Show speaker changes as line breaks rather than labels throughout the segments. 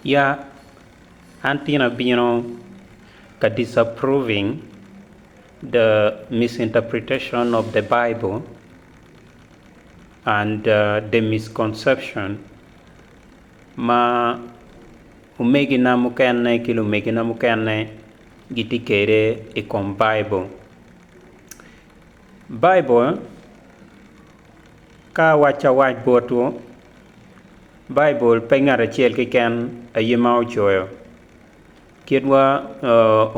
Ya, an tin abino ka disapproving the misinterpretation of the Bible and the misconception ma omegina mukene ki lumegina mukene gitye kwede i kom Baibul. Baibul ka awac awac botwu, Baibul pe ngat acel keken aye ma ocoyo. Kit wa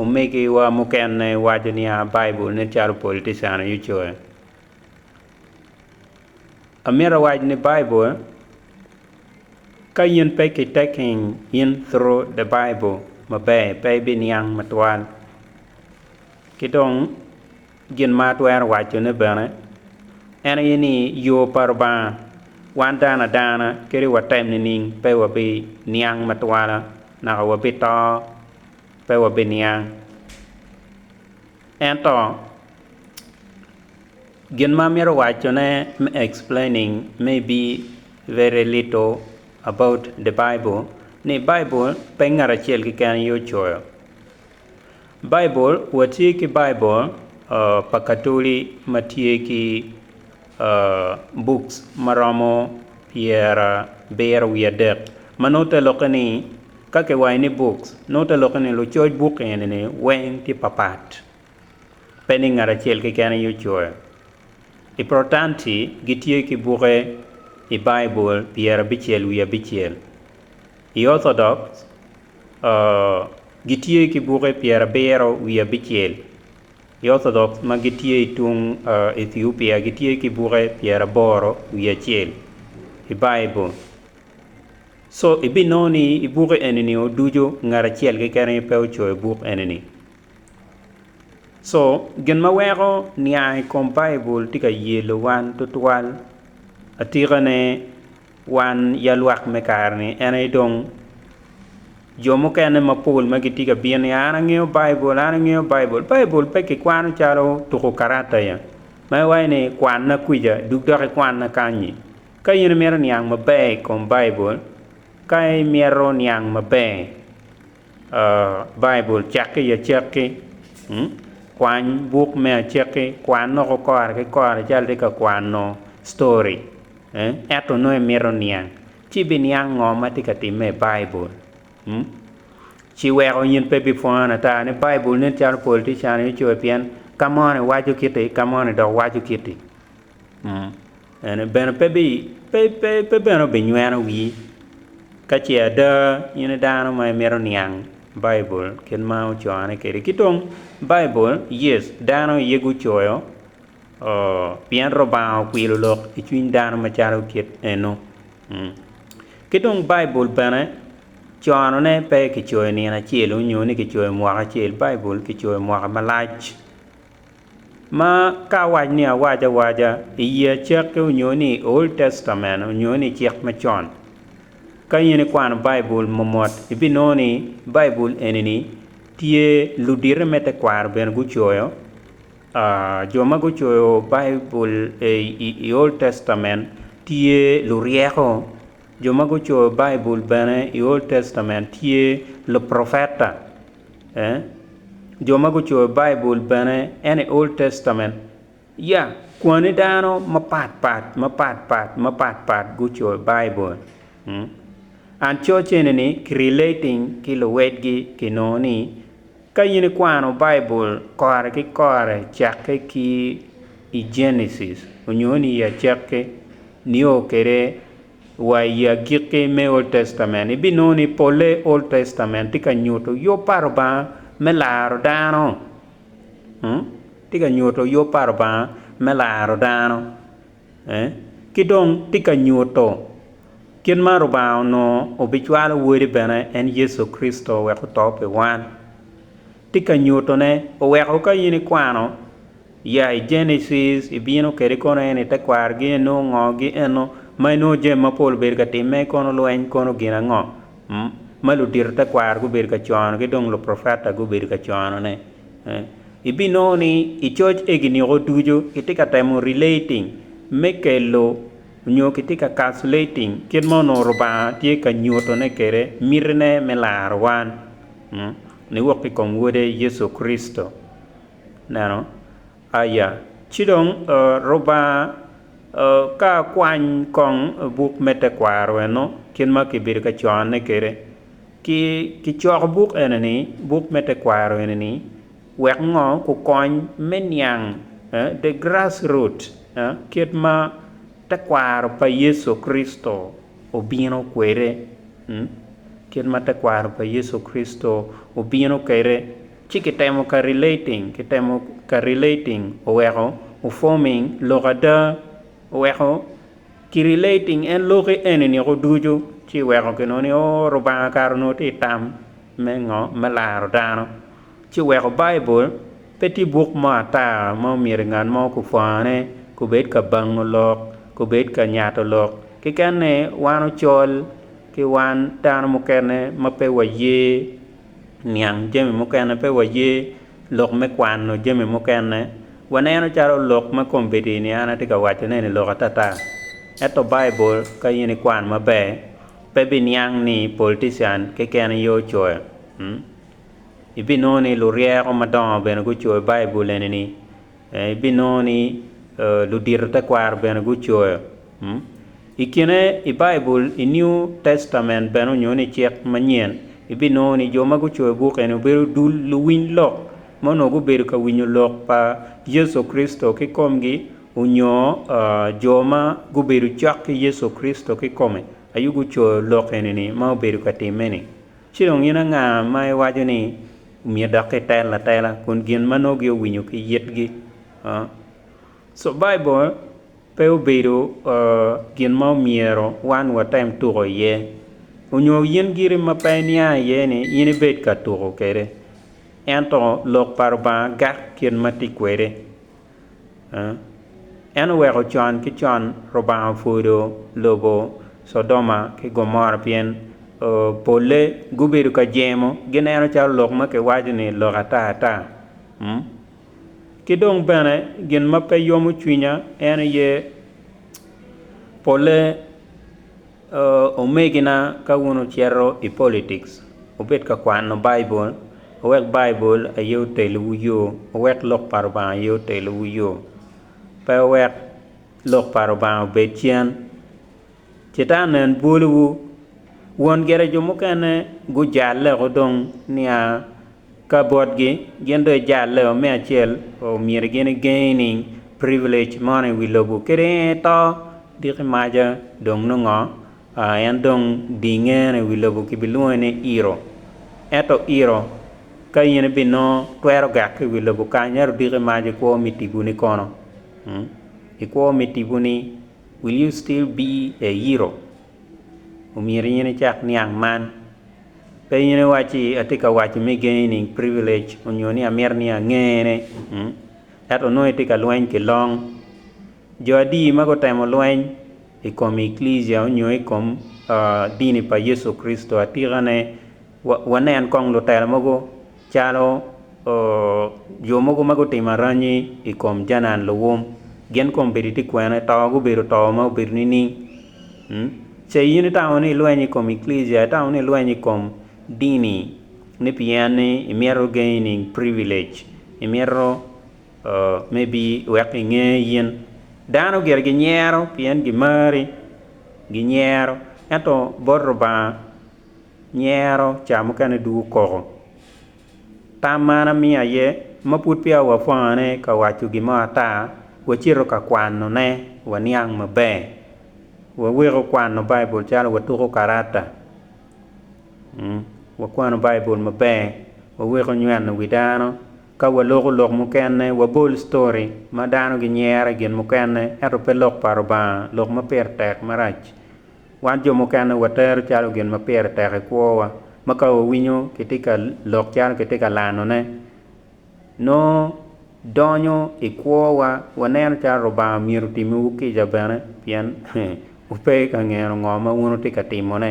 omegiwa mukene waco niya Baibul nen calo politician aye ocoyo. Amyero awac ni Baibul ka in pe ki taking in through the Bible maber pe ibiniang matwal ki dong Gin ma atwero wacone bene en aye ni yo pa Rubanga wan dano adana kadi watem nining pe wabi niang me twala naka wabi to pe wabi niang. Ento gin ma amito wacone me explaining may be very little about the Bible ni Bible pe ngat acel keken aye ocoyo. Baibul, Watye ki Baibul pa Katoli ma tye ki buk ma romo pyerabiro wiye adek, ma nongo te lokke ni, ka kiwaco ni buk, nongo te lokke ni lucoc buk eni weng tye papat, pe ni ngat acel keken aye ocoyo. I Protanti gitye ki buke i Baibul pyerabicel wiye abicel. I Orthodox, gitye ki buke pyerabiro wiye abicel. I Orthodox ma gitye i tung Ethiopia gitye ki buke pyeraboro wiye acel i Baibul. Co ibinongo ni i buke eni oducu ngat acel keken aye pe ocoyo buk eni. Co gin ma weko niang i kom Baibul tye ka yelo wan tutwal. Atikane Wan ya lwak me kare-ni, en aye dong jo mukene mapol ma gitye ka bino ni, 'An angeyo Baibul, an angeyo Baibul. Baibul pe kikwano calo tuko karata ya, ma iwaco ni, 'Kwanna kwica, dug dok ikwanna kany-nyi. Ka in imito niang maber i kom Baibul, ka imyero niang maber, Baibul, cakke i acakki, kwany buk me acakki, kwan loko kora ki kora calo itye ka kwano story, ento nongo imito niang, ci ibiniang ngo ma tye ka timme i Baibul. Ci weko in pe ibipwonyo ata ni Baibul nen calo politician-ni ocoyo pien ka moni waco kiti, ka moni dok waco kiti. En bene pe bene obinyweno wii ka ce ada in i dano ma imito niang Baibul kit ma ocone kwede. Ki dong Baibul, yes, dano aye gucoyo pien Lubanga okwilo lok i cwiny dano macalo kit eno. Ki dong Baibul bene conone pe kicoyo nino acel nyo ni kicoyo mwaka acel, Baibul kicoyo mwaka malac. ma ka awac ni awac awaca i ye Acakki onyo ni i Old Testament onyo ni i Cik Macon, ka in ikwano Baibul momot ibinongo ni Baibul eni-ni tye ludite me tekwaro bene gucoyo. Jo ma gucoyo Baibul i Old Testament tye luryeko, jo ma gucoyo Baibul bene i Old Testament tye luprufeta. jo ma gucoyo Baibul bene, en i Old Testament, ya, kwani dano mapat pat, mapat pat, mapat pat gucoyo Baibul. And church eni-ni ki relating ki luwedgi kinongo ni ka in ikwano Baibul kore ki kore cakke ki i Genesis onyo ni i Acakki nio kede Wa i agikki me Old Testament, ibinongo ni polle i Old Testament tye ka nyuto yub pa Lubanga me laro dano. Tye ka nyuto yub pa Lubanga me laro dano, ki dong tye ka nyuto kit ma Lubanga onongo obicwalo Wode bene, en Yecu Kricito wek oto pi wan. Tye ka nyutone, oweko ka in ikwano, ya i Genesis, ibino kede kono en i tekwargi eno, ngo gi eno ma inongo jami mapol obedo ka timme, kono lweny, kono gin ango ma ludito tekwaro gubedo ka cono ki dong luprofeta gubedo ka conone. Ibinongo ni i coc egi niko ducu kitye ka temo relating me kelo nyo kitye ka calculating kit ma onongo Lubanga tye ka nyutone kede mitine me laro wan. Niwok i kom Wode Yecu Kricito. Neno aya. Ci dong, Lubanga ka kwany kong buk me tekwaro eno, kit ma kibedo ka cone kwede, ki, kicoko buk ene-ni, buk me tekwaro ene-ni, wek ngo? Kukony me niang, eh, the grass root, eh, kit ma tekwaro pa Yecu Kricito. obino kwede, kit ma tekwaro pa Yecu Kricito obino kwede, ci kitemo ka relating, kitemo ka relating oweko o-forming lok ada, oweko ki relating en loki eni niko ducu, ci weko kinongo ni, oh, Rubanga kare onongo tye ka tam me ngo? Me laro dano. ci weko Baibul pe tye buk mo ata ma omyero ngat mo kupwone, kubed ka bango lok, kubed ka nyato lok. Keken-ni wan ocol ki wan dano mukene ma pe waye niang jami mukene, pe waye lok me kwano jami mukene. Waneno calo lok ma kombeddi-ni an atye ka wacone-ni lok atata. Ento Baibul ka in ikwano maber, pe biniang ni politician keken aye ocoyo. Ibinongo ni luryeko madongo bene gucoyo Baibul eni-ni. Ibinongo ni ludito tekwaro bene gucoyo. I kine i Baibul i New Testament bene onyo ni Cik Manyen, ibinongo ni jo ma gucoyo buk eni obedo dul luwiny lok ma onongo gubedo ka winyo lok pa Yecu Kricito kikomgi onyo jo ma gubedo cok ki Yecu Kricito kikome aye gucoyo lok eni-ni ma obedo ka timme-ni. Ci dong in anga ma iwaco ni omyero dok kitel atela kun gin ma nongo giowinyo ki yitgi? Co Baibul pe obedo gin ma omyero wan watem tuko iye. Onyo in giri ma pe iniang iye ni in ibed ka tuko kwede. Ento Lok pa Lubanga gak kit ma tye kwede. En oweko con ki con Lubanga opwodo lobo Codoma ki Gomora pien polle gubedo ka jemo, gineno calo lok ma kiwaco-ni lok ata ata. Ki dong bene gin ma pe yomo cwinya en aye polle. Omegina, ka wun wucito i politics, wubed ka kwano Baibul, wek Baibul aye otelwu yo, wek Lok pa Lubanga aye otelwu yo, pe wek Lok pa Lubanga obed cen. Catan en bwolowu. Won gire jo mukene gujalle woko dong nia. Ka botgi, gin dong ijalle o me acel o myero gin igengi ni privilege mono i wi lobo kadi en aye to, diki maca dong nongo ngo? Ah, en dong dingeno i wi lobo kibilwonge ni iro. Ento iro, ka in ibinongo, twero gak ki i wi lobo kany, ento diki maca ikwo me tipo ni kono? Ikwo me tipo ni, Will you still be a iro? Omyero in icak niang man. Pe in iwacci, Atye ka waco me gaining privilege onyo ni amito ni angene, ento onongo itye ka lweny ki long. Jo adi ma gutemo lweny i kom Eklesia onyo i kom dini pa Yecu Kricito? Atikane, wanen kong lutela mogo. Calo jo mogo ma gutimo aranyi i kom Janan luwum, gin kombeddi tye kwene, to gubedo to ma obedo nining? Ce in itamo ni ilweny i kom eklesia, itamo ni ilweny i kom dini ni pien ni imito gaining privilege, imito maybe wek kinge in. Dano gire ginyero pien gimari, ginyero, ento bot Lubanga nyero ca mukene dwogo koko. Tam ma an amiyo aye ma pud peya wapwongone ka waco gin mo ata, wacito ka kwanone waniang maber. Waweko kwano Baibul calo watuko karata. Wakwano Baibul maber, waweko nyweno wi dano. Ka waloko lok mukene, wabol story ma dano ginyero i gin mukene ento pe lok pa Lubanga, lok ma pire tek marac. Wan jo mukene watero calo gin ma pire tek i kwowa ma ka wawinyo kitye ka lok calo kitye ka lanone, nongo donyo i kwowa. Waneno calo Lubanga myero otimmiwu kica bene pien wupe ka ngeno ngo ma wun wutye ka timone.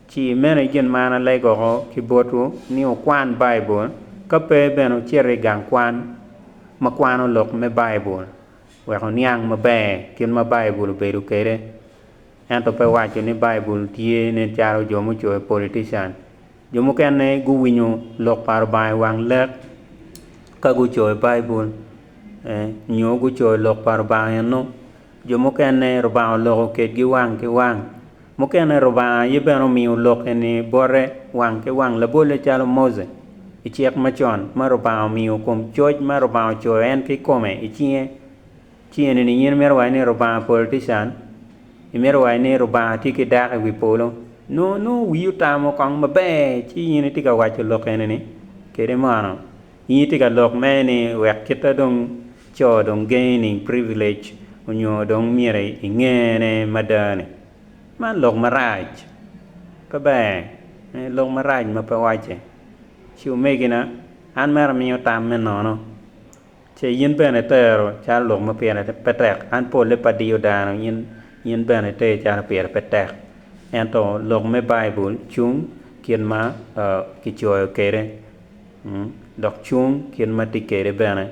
Ci meno i gin ma an alegoko ki botwu ni wukwan Baibul, ka pe bene wucit i gang kwan ma kwano lok me Baibul. wek oniang maber kit ma Baibul obedo kwede. Ento pe waco ni Baibul tye nen calo jo mucoyo, politician. Jo mukene guwinyo lok pa Lubanga i wang lek ka gucoyo Baibul nyo gucoyo lok pa Lubanga eno. Jo mukene Lubanga oloko kedgi wang ki wang. Mukene Lubanga aye bene omiyo lokke ni bote wang ki wang labolle calo Mose i cik macon ma Lubanga omiyo kom coc ma Lubanga ocoyo en ki kome i cinge. Ci eni ni in imito waci ni Lubanga politician? Imito waci ni Lubanga tye ki dako i wi polo? Nongo nongo wii otamo kong maber ci in itye ka waco lok eni ni kede mono? In itye ka lok mere ni wek kita dong. Co dong gaining privilege onyo dong myero ingene mada ni man lok marac, pe ber, en lok marac ma pe wacce. Ci omegina, an mere amiyo tam me nono, ce yin bene itero calo lok ma pire pe tek, an polle pe adiyo dano, yin, yin bene iter calo pire pe tek. Ento lok me Baibul cung kit ma kicoyo kede. dok cung kit ma tye kwede bene.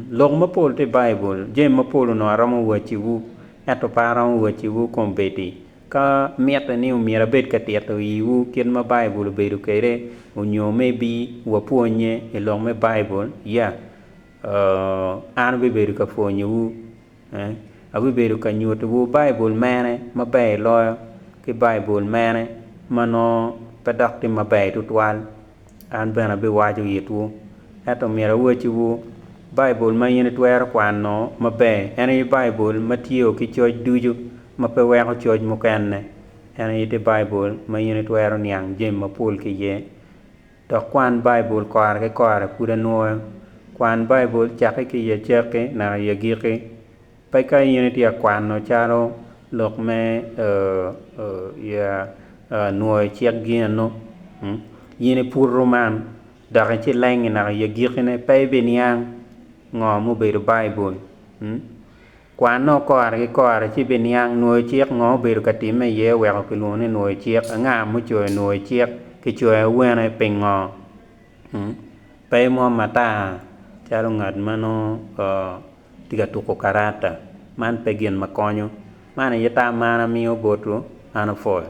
Lok mapol tye i Baibul. Jami mapol onongo aromo waciwu, ento pe aromo waciwu kombeddi. Ka mitte ni myero abed ka tito iwu kit ma Baibul obedo kwede, onyo maybe wapwonnye i lok me Baibul, yeah, an abibedo ka pwonyowu. Abibedo ka nyutiwu Baibul mene ma ber loyo ki Baibul mene ma nongo pe dok tye maber tutwal. An bene abiwaco itwu. Ento myero awacciwu, Baibul ma in itwero kwano maber en aye Baibul ma tiyo ki coc ducu ma pe weko coc mukene. En aye tye Baibul ma in itwero niang jami mapol ki iye. Dok kwan Baibul kora ki kora pud anwoyo. Kwan Baibul cakke ki i acakki naka i agikki. Peka in itye ka kwano calo lok me nwoyo cik gino. In iputo man dok icilengnge naka i agikkine. Pe ibiniang ngo ma obedo Baibul. Kwanno kore ki kore ci ibiniang nwoyo cik ngo obedo ka timme iye oweko kilwongo ni nwoyo cik, anga mucoyo nwoyo cik, kicoyo awene, pingo? Hum, pe imwom ata calo ngat ma nongo tye ka tuko karata. Man pe gin ma konyo. Man aye tam ma an amiyo botwu, an opwoyo.